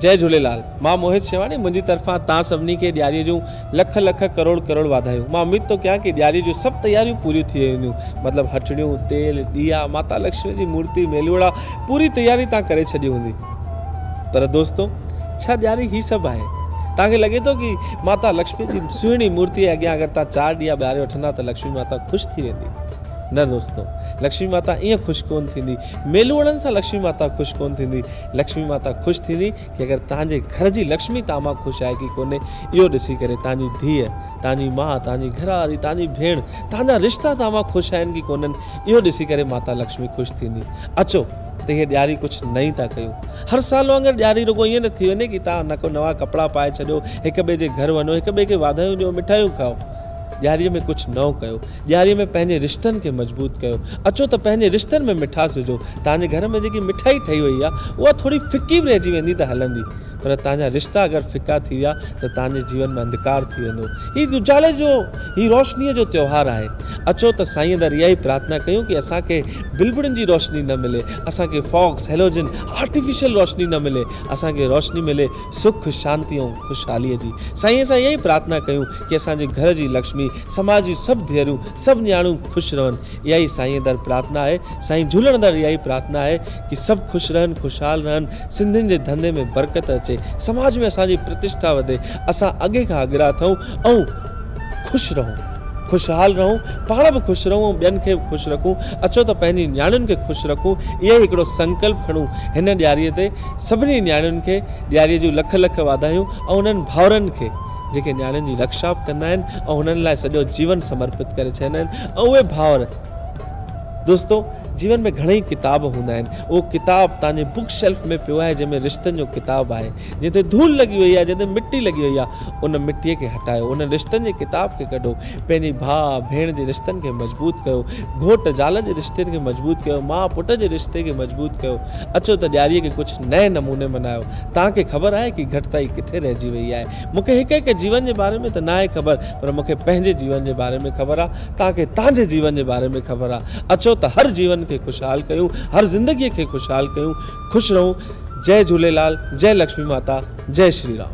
جئي جهوليلال مان موهت شيواڻي منهنجي طرفان تان سڀني کي ڏياري جون لک لک ڪروڙ ڪروڙ واڌايون مان اميد ٿو ڪيان ڪي ڏياري جون سڀ تياريون پوريون ٿي وينديون مطلب هٽڙيون تيل ڏيئا ماتا لڪشمي جي مورتي ميلوڙا پوري تياري تان ڪري ڇڏي هوندي پر دوستو ڇا ڏياري هي سڀ آهي تان کي لڳي ٿو ڪي ماتا لڪشمي جي سهڻي مورتي اڳيان اگر تان چار ڏيئا ٻاري وٺندا ته لڪشمي ماتا خوش ٿي ويندي نه دوستو لڪشمي ماتا ايئن خوش ڪون ٿيندي ميلوڙن سان لڪشمي ماتا خوش ڪونه ٿيندي. لڪشمي ماتا خوش ٿيندي ڪي اگر تهان جي گهر جي لڪشمي تهان مان خوش آهي ڪي ڪونهي اهو ڏسي ڪري تهان جي ڌيء، تهان جي ماء، تهان جي گهر واري، تهان جي ڀيڻ، تهان جا رشتا تهان مان خوش آهن ڪي ڪونهن اهو ڏسي ڪري ماتا لڪشمي خوش ٿيندي. اچو ته هيء ڏياري ڪجهه نئين ٿا ڪيون. هر سال وانگر ڏياري رڳو ائين نه ٿي وڃي ڪي تهان نڪو نوان ڪپڙا پائي ڇڏيو، هڪ ٻئي جي گهر وڃو، هڪ ٻئي کي واڌايون ڏيو، مٺايون کائو. ڏياريء ۾ ڪجهه نئون ڪيو. ڏياريء ۾ پنهنجي رشتن کي مضبوط ڪيو. اچو ته پنهنجي رشتن ۾ مٺاس وجهو. توهان جي گهر ۾ جيڪي مٺائي ٺهي وئي آهي، اها ٿوري ڦڪي به رهجي ويندي ته هلندي، پر توهان جا رشتا اگر ڦڪا ٿي ويا ته توهان جي جيون ۾ انڌڪار ٿي ويندو. هي اجالي جو، هي روشنيء جو تيوهار آهي. اچو ته سائينء در اها ئي پرارٿنا ڪيون ڪي اسان کي بلبڙن جي روشني نه ملي، اسان کي فاگز، هيلوجن، آرٽيفيشل روشني نه ملي، اسان کي روشني ملي سک، شانتي ۽ خوشحاليء جي. سائينء سان اها ئي پرارٿنا ڪيون ڪي اسان جي گهر جي لڪشمي، سماج جون سڀ ڌيئرون سڀ نياڻيون خوش رهن اها ئي سائين در پرارٿنا آهي سائين جهولڻ در اها ئي پرارٿنا آهي ڪي سڀ خوش رهن خوشحال رهن سنڌين جي ڌنڌي ۾ برڪت اچي سماج ۾ اسان جي پرتشٺا وڌي اسان اڳي کان اڳرا اٿئون ۽ خوش رهون خوشحال رهون پاڻ به خوش رهون ۽ ٻين کي به خوش رکون اچو ته پنهنجي نياڻين کي خوش رکون اهو ئي هڪڙو سنڪلپ کڻون هن ڏياري تي سڀني نياڻين کي ڏياري جون لک لک واڌايون ۽ انهن ڀائرن کي جيڪي نياڻين جي رڪشا به ڪندا آهن ۽ هنن لاء سڄو جيون سمرپت ڪري ڇڏيندا آهن ۽ اهي ڀائر دوستو جيون ۾ گهڻئي ڪتاب هوندا آهن اهو ڪتاب تانجي بوڪ شيلف ۾ پيو آهي جنهن ۾ رشتن جو ڪتاب آهي جنهن تي ڌول لڳي وئي آهي جنهن تي مٽي لڳي وئي آهي ان مٽي کي هٽايو انهن رشتن جي ڪتاب کي ڪڍو پنهنجي ڀاء ڀيڻ جي رشتن کي مضبوط ڪيو گهوٽ زال جي رشتن کي مضبوط ڪيو ماء پٽ جي رشتي کي مضبوط ڪيو اچو ته ڏياريء کي ڪجهه نئين نموني منايو. توهان کي خبر آهي ڪي گهٽتائي ڪٿي رهجي ويئي آهي؟ مون کي هڪ هڪ جيون جي باري ۾ ته ناهي خبر پر مون کي پنهنجي جيون جي باري ۾ خبر آ. توهان کي توهان جي جيون جي باري ۾ خبر آ. اچو ته هر جيون کي خوشحال ڪيون، هر زندگيء کي خوشحال ڪيون. خوش رهون. جئه جهوليلال، جئه لڪشمي ماتا، جئه شري رام.